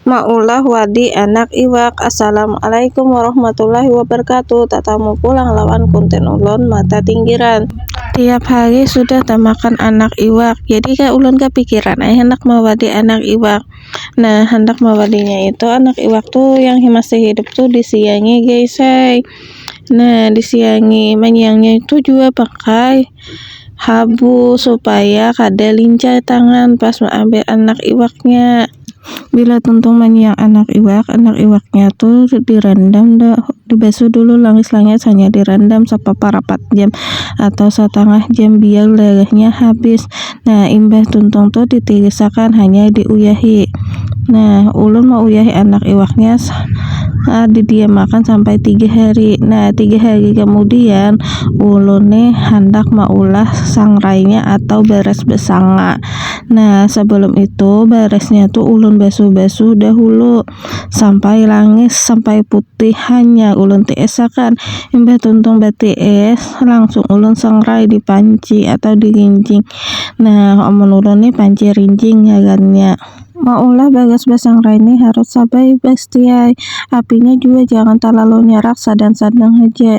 Maulah wadi anak iwak. Assalamualaikum warahmatullahi wabarakatuh. Tatamu pulang lawan konten ulon mata tinggiran. Tiap hari sudah tamakan anak iwak. Jadi ka ulon kapikiran ai handak mawadi anak iwak. Nah handak mawadinya itu anak iwak tu yang masih hidup tu disiangi guys ai. Nah disiangi manyiangnya itu jua pakai habu supaya kada lincah tangan pas maambil anak iwaknya. bila tuntung manyiak anak iwak, anak iwak nya tu di rendam di basuh dulu langis langis hanyar di rendam sapapa rapat jam atau satangah jam biar darah nya habis nah imbah tuntung tu di tiris akan hanyar di uyahi nah ulun me uyahi anak iwak nya di diam akan sampai tiga hari nah tiga hari kemudian ulun ne handak meulah sangrai nya atau beras be sanga. Nah, sebelum itu beresnya tuh ulun basuh-basuh dahulu sampai langis sampai putih hanya ulun tiis akan imbah tuntung batiis langsung ulun sangrai di panci atau di rinjing nah amun ulun nih panci rinjing ngarannya maulah bagas basangrai nih harus sabaibas diai apinya jua jangan talalu nyarak sadang-sadang haja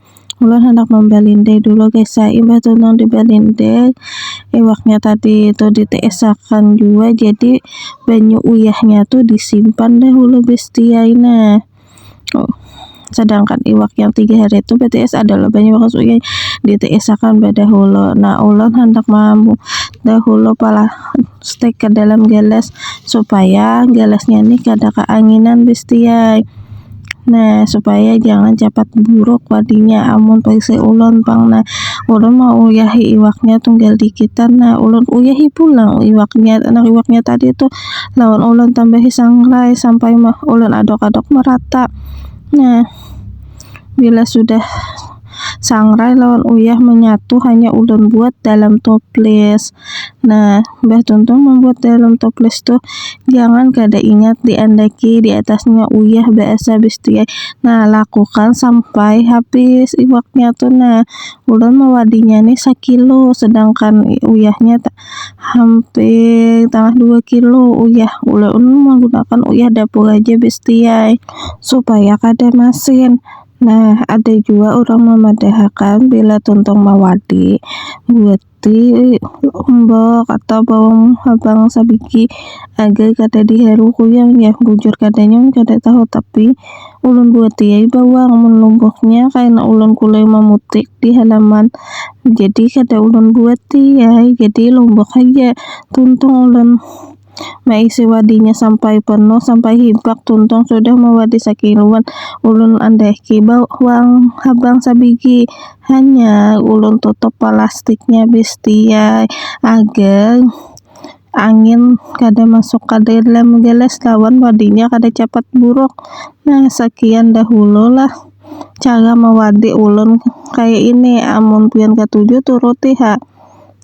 ulun handak membalindai dulu guys ya imbah tuh nang dibalindai iwaknya tadi itu ditiisakan juga jadi banyu uyahnya tuh disimpan dah dulu besti aina oh sedangkan iwak yang tiga hari itu bts adalah banyu bakas uyah ditiisakan badahulu nah ulun handak mambu dahulu pala stek ke dalam gelas supaya gelasnya nih kada kaanginan besti ai. Nah, supaya jangan capat buruk wadinya amun paisai ulun pang nah ulun mauyahi iwaknya tunggal dikitan nah ulun uyahi pulang iwaknya nah iwaknya tadi tu lawan ulun tambahi sangrai sampai ulun adok-adok merata nah bila sudah sangrai lawan uyah manyatu hanya ulun buat dalam toples nah mbah tuntung mambuat dalam toples tu jangan kada ingat di andaki di atas nya uyah ba es habis tu ai nah lakukan sampai habis iwak nya tu nah ulun mawadi nya ni sakilo sedangkan uyah nya hampir tangah dua kilo uyah ulun menggunakan uyah dapur haja bisti ai supaya kada masin. Nah, ada jua urang mamadahakan bila tuntung mawadi, guti, lombok, atau bawang habang sabigi agai kada diharu kuyang jar. Bujur kadanya ulun kada tahu, tapi ulun buati ai bawang. Mun lomboknya kaina ulun kulai mamutik di halaman, jadi kada ulun buati ai, jadi lombok haja tuntung ulun. maisi wadinya sampai penuh sampai hibak tuntung sudah mawadi sakiluan ulun andehki bawang habang sabigi hanya ulun tutup palastiknya bistia agar angin kada masuk ka dalam gelas lawan wadinya kada capat buruk nah sakian dahulu lah cara mawadi ulun kaya ini amun pian katuju turuti ha.